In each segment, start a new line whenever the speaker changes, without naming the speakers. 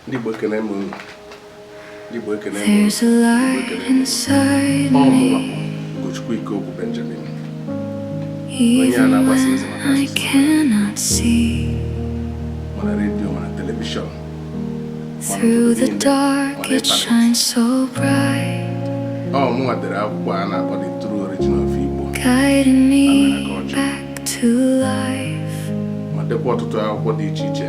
Ndị Igbo ekele m unu. Ndị Igbo ekele m unu. Ọ mụwa Ugochukwu Ike Ogwu
Benjamin. Onye
a na-agbasa ozi maka asụsụ. Ma na redio ma na telivishọn. Through the dark it shines so bright. Ọ mụwa dere akwụkwọ a na-akpọ The True Origin of Igbo. Guiding me back to life. Ma dekwa ọtụtụ akwụkwọ dị iche iche.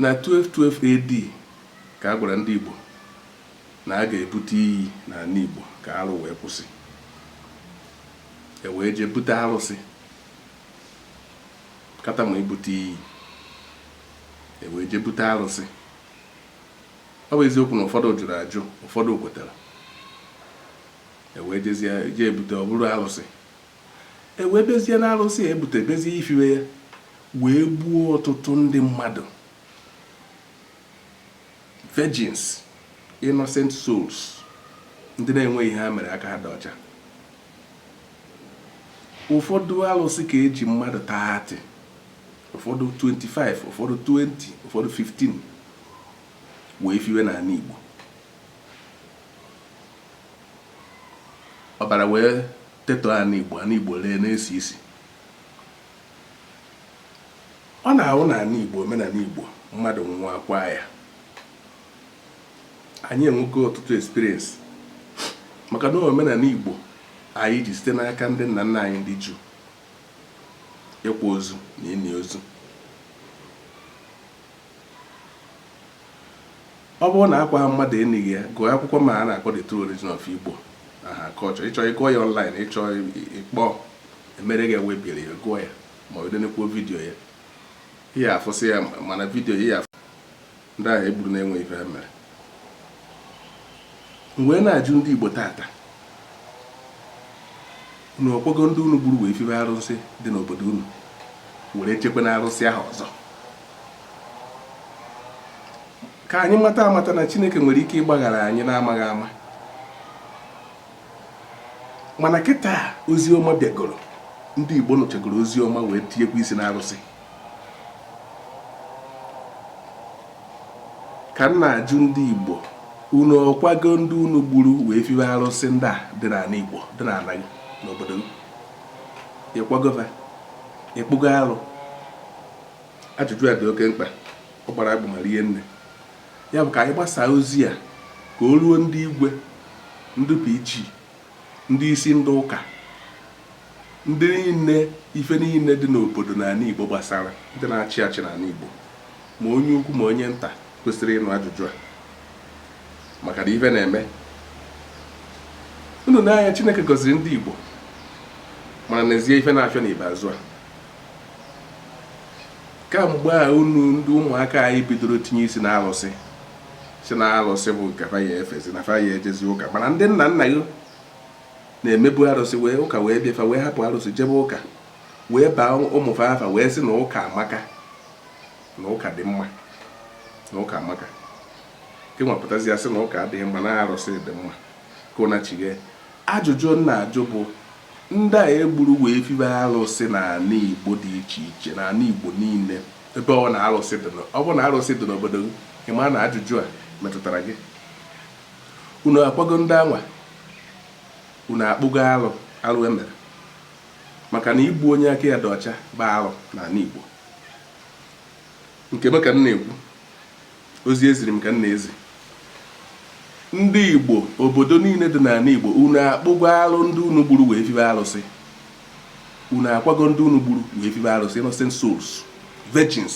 na 1212 AD ka a gwara ndị Igbo na a ga-ebute iyi n'ana Igbo ka arụ wee kwụsị e wee jee bute arụsị kata ma ibute iyi e wee jee bute arụsị ọ bụ eziokwu na ụfọdụ jụrụ ajụ ụfọdụ kwetara e wee jezie jee ebute ọ bụrụ arụsị E wee bezie n'arụsị a e butere bezie ifiwe ya wee gbuo ọtụtụ ndị mmadụ virgins innocent souls ndị na-enweghị ihe ha mere aka ha dị ọcha ụfọdụ arụsị ka e ji mmadụ 30 ụfọdụ 25 ụfọdụ 20 ụfọdụ 15 wee fiwe n'ana Igbo Ọbara wee tetọọ ana Igbo, ana Igbo ree na-esi isi. Ọ na-awụ n'ana Igbo, omenala Igbo, mmadụ nwụọ a kwaa ya. Anyị enwego ọtụtụ experience maka na omenala Igbo anyị ji site n'aka ndị nna nna anyị ndị Juu ịkwa ozu na ini ozu. ọ bụrụ na a kwaghị mmadụ e nighi ya gụọ akwụkwọ m a na-akpọ the true origin of igbo and her culture ị chọọ ịgụ ya online ị chọọ ịkpọ e meere gị waybill ya gụọ ya ma ọ denekwuo vidiyo ya ị ya-afụsị ya ma na vidiyo ị ya-afụ ndị ahụ e gburu na-enweghị ife ha mere m wee na-ajụ ndị igbo tata Unu ọ kwago ndị unu gburu wee fiwe arụsị dị n'obodo unu were chekwa na arụsị ahụ ọzọ ka anyị mata amata na Chineke nwere ike ịgbaghara anyị n'amaghị ama mana kịta ozi ọma bịagoro ndị Igbo nụchagoro ozi ọma wee tinyekwa isi n'arụsị ka m na-ajụ ndị Igbo unu ọ kwago ndị unu gburu wee fiwe arụsị ndị a dị n'ana Igbo dị n'ana gị n'obodo gị ị kwago va ị kpụgo arụ ajụjụ a dị oke mkpa ọ gbara agbụ ma rie nne ya bụ ka anyị gbasaa ozi a ka o ruo ndị igwe ndị PG ndị isi ndị ụka ndị niile ife niile dị n'obodo n'ala Igbo gbasara, ndị na-achị achị n'ala Igbo, ma onye ukwu ma onye nta kwesịrị ịnụ ajụjụ a maka na ife na-eme unu n'anya Chineke gọziri ndị Igbo mana n'ezie ife na-afịọ n'ikpeazụ a kamgbe a unu ndị ụmụaka anyị bidoro tinye isi na alụsị sị na alụsị bụ nke fa ya efezi na fa ya ejezi ụka mana ndị nna nna gị na-emebu arụsị wee ụka wee bịa fa wee hapụ arụsị jebe ụka wee baa ụmụ fa afa wee sị na ụka amaka na ụka dị mma na ụka amaka gị nwa pụtazịa sị na ụka adịghị mma na arụsị dị mma ka ụna chighe ajụjụ m na-ajụ bụ ndị a egburu wee fibe arụsị n'ala igbo dị iche iche n'ala igbo niile ebe ọ bụna arụsị dị n'o- ọ bụ na arụsị dị n'obodo gị ị ma na ajụjụ a metụtara gị Unu akwago ndị anwa unu akpụgo alụ arụ e mere maka na igbu onye aka ya dị ọcha bụ alụ n'ala Igbo. Nke m ka m na-ekwu, ozi e ziri m ka m na-ezi. Ndị Igbo, obodo niile dị n'ala Igbo, unu akpụgo alụ ndị unu gburu wee fibe alụsị. Unu akwago ndị unu gburu wee fibe alụsị, innocent souls, virgins.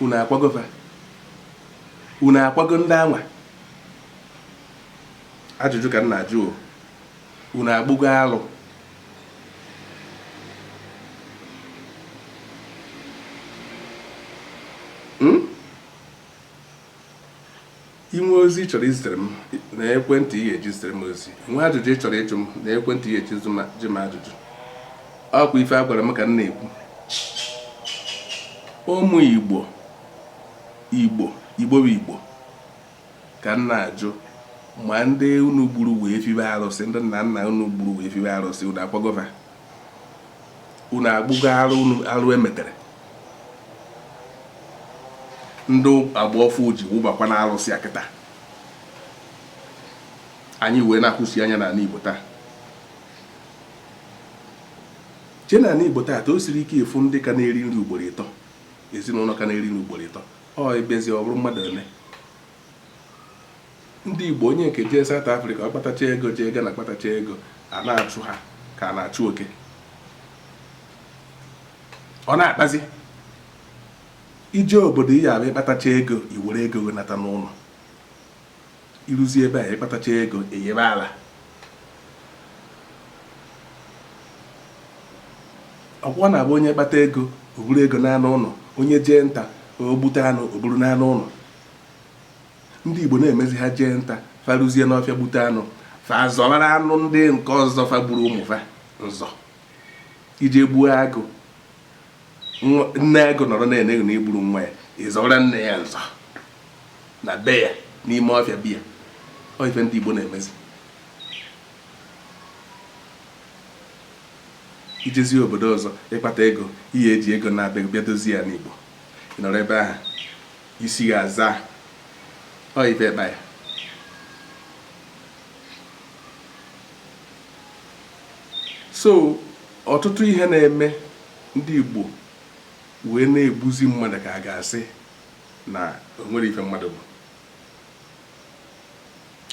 Unu akwago fa. unu akwago ndị anwa ajụjụ ka m na-ajụ o unu akpụgo alụ Hmm? i nwee ozi ị chọrọ izitere m na ekwentị ị ga-eji zitere m ozi i nwee ajụjụ ị chọrọ ịjụ m na ekwentị ị ga-eji jụ m ajụjụ ọ kwa ife a gwara m ka m na-ekwu ụmụ igbo Igbo, Igbo bụ Igbo ka m na-ajụ ma ndị unu gburu wee fibe arụsị ndị nna nna unu gburu wee fibe arụsị unu akwago va unu akpụgo arụ unu arụ emetere ndị agba ọfụụ ji wụbakwa na arụsị kịtaa anyị wee na-akwụsị anya n'ala Igbo taa chee n'ala Igbo taata o siri ike ịfụ ndị ka na-eri nri ugboro ịtọ ezinụnọ ka na-eri nri ugboro ịtọ ọ ebezi ọ bụrụ mmadụ ole ndị Igbo onye nke jee South Africa ọ kpatacha ego jee Ghana kpatacha ego a na-achụ ha ka a na-achụ oke ọ na-akpazi i jee obodo ị ya-abịa ị kpatacha ego i were ego nata n'ụnọ I ruzie ebe a, ị kpatacha ego, ị yịba ala. Ọkwa ọ na-abụ onye kpata ego, o buru ego naa n'ụlọ, onye jee nta, o gbute anụ, o buru naa n'ụlọ. Ndị Igbo na-emezi ha jee nta, fa ruzie n'ọfịa gbute anụ, fa azọbara anụ ndị nke ọzọ fa gburu ụmụ fa nzọ. I jee gbuo agụ, nne agụ nọrọ na-ene gị na i gburu nwa ya, ị zọbara nne ya nzọ. na be ya n'ime ọfịa be ya ọ ife ndị Igbo na-emezi i jezie obodo ọzọ ị kpata ego ị ya-eji ego naba bịa dozie anị Igbo ị nọrọ ebe ahụ isi ya aza ọ ife ịkpa ya so ọtụtụ ihe na-eme ndị Igbo wee na-egbuzi mmadụ ka a ga-asị na o nwere ife mmadụ bụ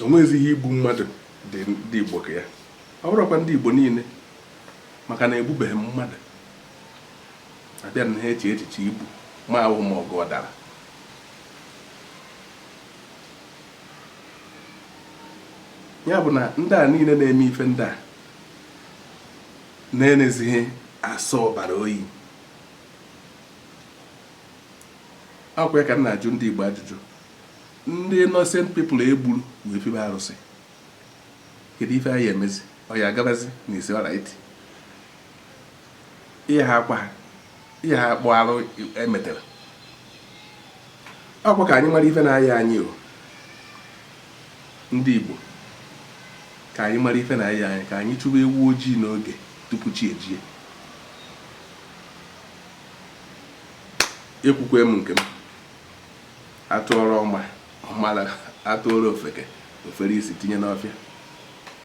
o nweghịzi ihe igbu mmadụ dị ndị Igbo ka ya ọ bụrọkwa ndị Igbo niile maka na egbubeghị m mmadụ abịa na ha eche echiche igbu mmadụ ma ọgụ ọ dara ya bụ na ndị a niile na-eme ife ndị a na-enezighị asọ ọbara oyi Ọkwa ya ka m na-ajụ ndị Igbo ajụjụ. Ndị innocent people e gburu wee fibe arụsị. Kedu ife a ya-emezi? Ọ ya agabazi na it's alright. Ihe ha akwa ha. Ihe ha akpụ arụ e metere. Ọkwa ka anyị mara ife na-aya anyị o. Ndị Igbo ka anyị mara ife na-aya anyị ka anyị chụwa ewu ojii n'oge tupu chi ejie. ekwukwe m nke m a tụọrọ ọma ọ mara a tụọrọ ofeke o fere isi tinye n'ọfịa